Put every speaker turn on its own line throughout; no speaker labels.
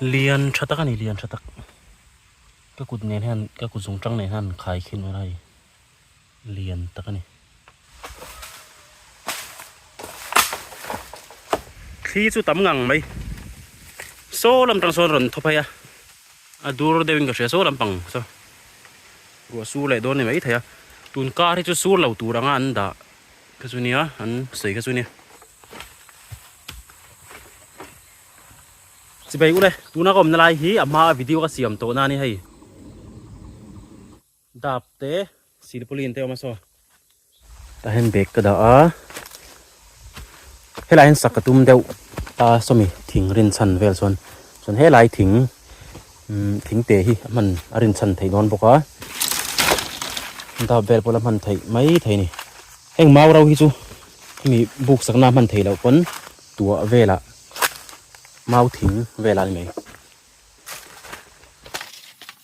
lian tha tak a ni lian tha tak ka kut nen hian ka kut zung tang nen hian an khai khin a ni. Lian tak a ni. Thli chu tam ngang mai. Saw lam tang sawn rawn thaw phei a. A dur deuhin ka hria saw lam pang saw. Ruah sur leh dawn ni mai thei a. Tun kar hi chu sur lo tur anga an dah kha chu nia, an sawi kha chu nia. Chibai u le, tuna ka awmna lai hi a hmaa video ka siam tawh nani hei. Dap te silpaulin te awm a saw. Tah hian bag ka dah a, helai hian sak ka tum deuh a sawmi thing rin chhan vel chuan chuan helai thing thing te hi a hman a rin chhan thei dawn bawk a, dap vel pawh la hman theih mai thei a ni. Heng mau ro hi chu hemi buk sakna a hman thei loh pawn tuah velah mau thing velah a ni mai.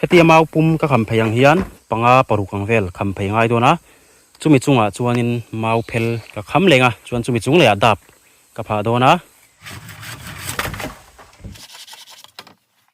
heti amau pum ka kham phei ang hian panga paruk ang vel kham phei ngai dawn a chumi chungah chuanin mau phel ka kham leng a chuan chumi chung leh ah dap ka phah dawn a.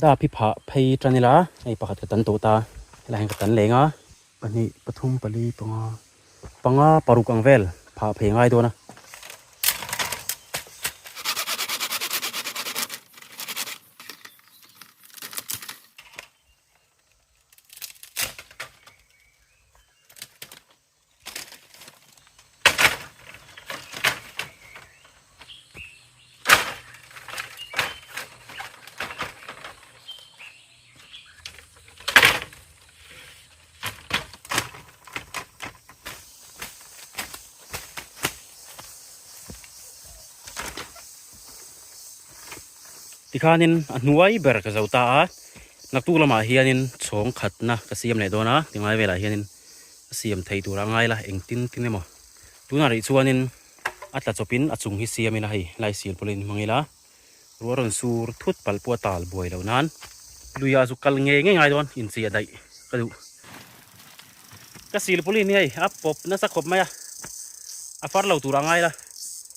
Da phi phah phei tan ila hei pakhat ka tan tawh ta helaiin ka tan leng a. Pahnih, pathum, pali, panga, panga paruk ang vel phah phei ngai dawn a. tikhanin a hnuai ber ka zo ta a naktuk lamah hianin chhawng khatna ka siam leh dawn a ti ngai velah hianin. A siam thei tur a ngai la, engtin tin emaw. Tunah rih chuanin a tla chawpin a chung hi siam ila hei, Laisil pawh la inhmang ila, ruah a rawn sur thut palh pawh a tal buai lo nan, luiah chu kal ngei ngei ngai dawn inchei a daih ka duh. Ka silpaulin hi hei a pawp nasa khawp mai a, a far lo tur a ngai la,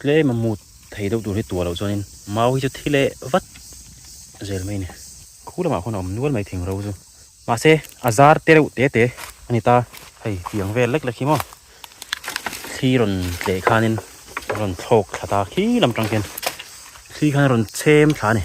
tlem a mut thei deuh tur hi tuah loh chuan in mau hi chu thi leh vat zel mai a ni khu lamah khawn a awm nual mai thing ro chu mahse a zar te reuh te te a ni ta hei fiang vel lek lek hi maw thli rawn tleh khan in rawn thlawk thla ta khi lam tang khian thli khan a rawn chhem thla a ni.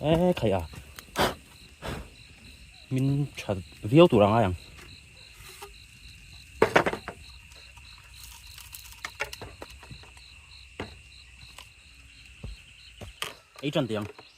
eh khai a min tha viau tur angai ang ei chan tiang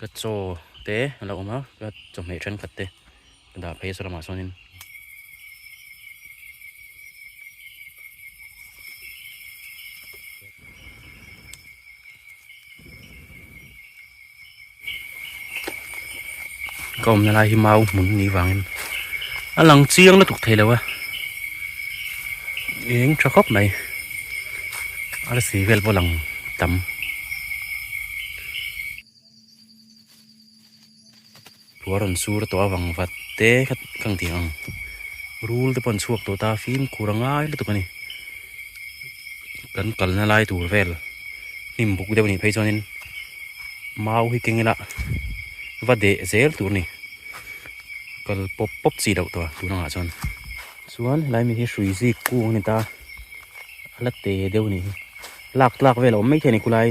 Ka chaw te a lo awm a, ka chawhmeh thenkhat te ka dah phei a saw lamah sawnin. Ka awmna lai hi mau hmun ni vangin a lang chiang lutuk thei lo a, eng tha khawp mai a la si vel pawh a lang tam. Thua rawn sur tawh avang vat te kha kha ang thih ang rul te pawh an chhuak tawh ta fimkhur a ngai lutuk a ni kan kalna lai tur vel hnim buk deuh a nih phei chuan in mau hi keng ila va deh zel tur a ni kal pawp pawp chi loh tawh tun ang ah chuan chuan helai mi hi hrui zik kung a ni ta a la te deuh a ni lak tlak vel a awm maithei a ni khulai.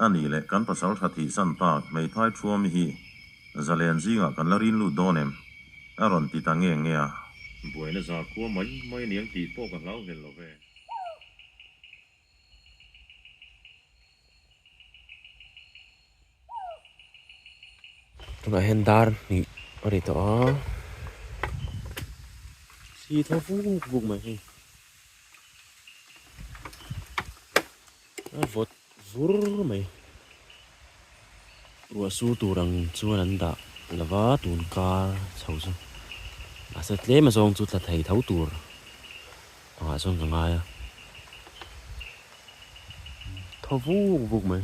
A nih leh kan pasal tha thih san tak hmeithai thuami hi zalen zingah kan la rin lut dawn em? A rawn ti ta nge nge a. Buaina za khua mai mai a ni ang tih pawh ka hlauhel lo ve. Tunah hian dar hnih a ri tawh a. Thi tho buk buk mai hei. A vawt vur mai. Ruahsur tur ang chuan an dah lo va, tun kar chho chu. Mahse tlema zawng chu tla thei tho tur pangah chuan ka ngai a. Thaw vuk vuk mai.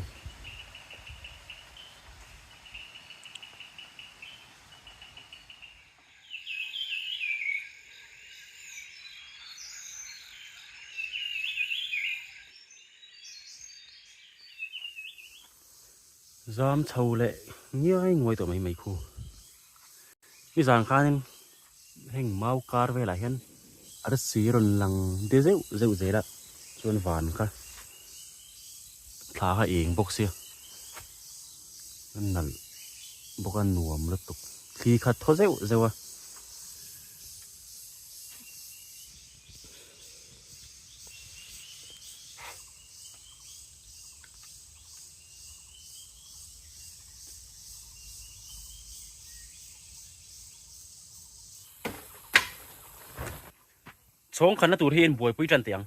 zam chho leh ngiai nguai tawh mai mai khu mi zan khanin heng mau kar velah hian. Arsi rawn lang de zeuh zeuh zel a, chuan van kha thla kha eng bawk sia, a nalh bawk a nuam lutuk, thli kha thaw zeuh zeuh a. Chhawng khanna tur hi inbuaipui ṭan teh ang.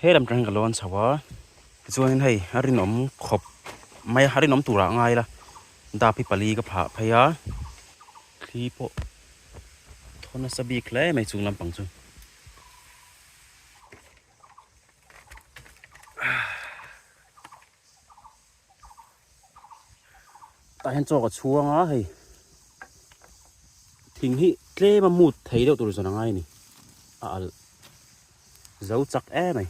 He lam tangin ka lo an chho a, tichuanin hei a rinawm khawp mai a, a rinawm turah a ngai ila dap hi pali ka phah phei a, thli pawh thaw nasa bik hle mai chung lampang chu. Tah hian chawk a chhuang a hei thing hi tlem a mut thei deuh tur zan a ngai ni a al zo chak e mai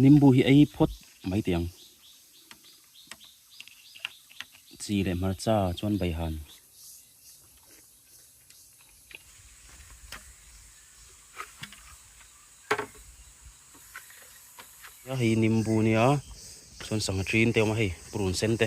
nimbu hi ei phawt mai teh ang chi leh hmarcha chuan beihan a hei nimbu nia chuan sangha ṭin te a awm a hei purun sen te.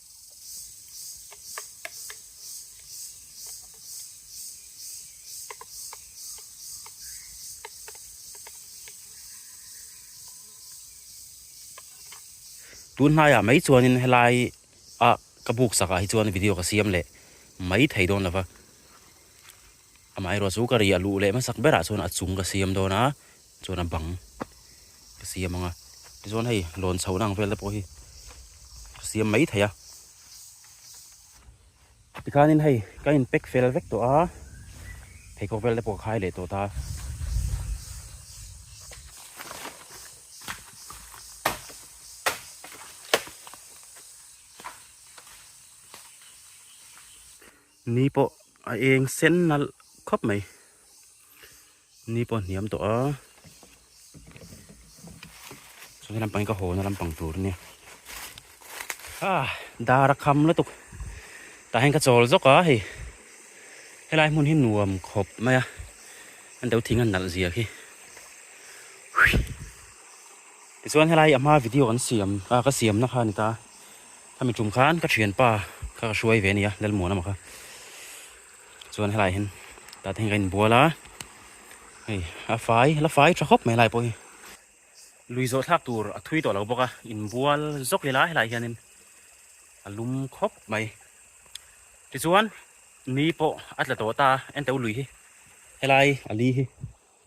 tun hnai ah mai chuan in helai a ka buk sak ah hi chuan video ka siam leh mai thei dawn lova amaherawhchu ka ri a luh leh hmasak ber ah chuan a chung ka siam dawn a chuan a bang ka siam ang a tichuan hei lawn chho na ang vel te pawh hi ka siam mai thei a tikhan in hei ka in pack fel vek tawh a pheikhawk vel te pawh ka khai leh tawh ta ni pawh a eng sen nalh khawp mai Ni pawh a hniam tawh a, chu hela pawhin ka haw na lampang tur nia. Ah, dar a kham lutuk. Tah hian ka chawl zawk a hei. Helai hmun hi nuam khawp mai a, an deuh thing a nalh zia khi. Tichuan helai a hma video kan siam, a ka siam na kha a ni ta. Khami tum khan ka thianpa kha ka hruai ve a nia, Lalmuan emaw kha. chuan helai hian tate hian ka in bual a hei a fai la fai tha khawp mai a lai pawh hi lui zawh thlak tur a thui tawh lo bawk a in bual zawk leh la helai hian in a lum khawp mai tichuan ni pawh a tla tawh ta a enteu lui hi helai a li hi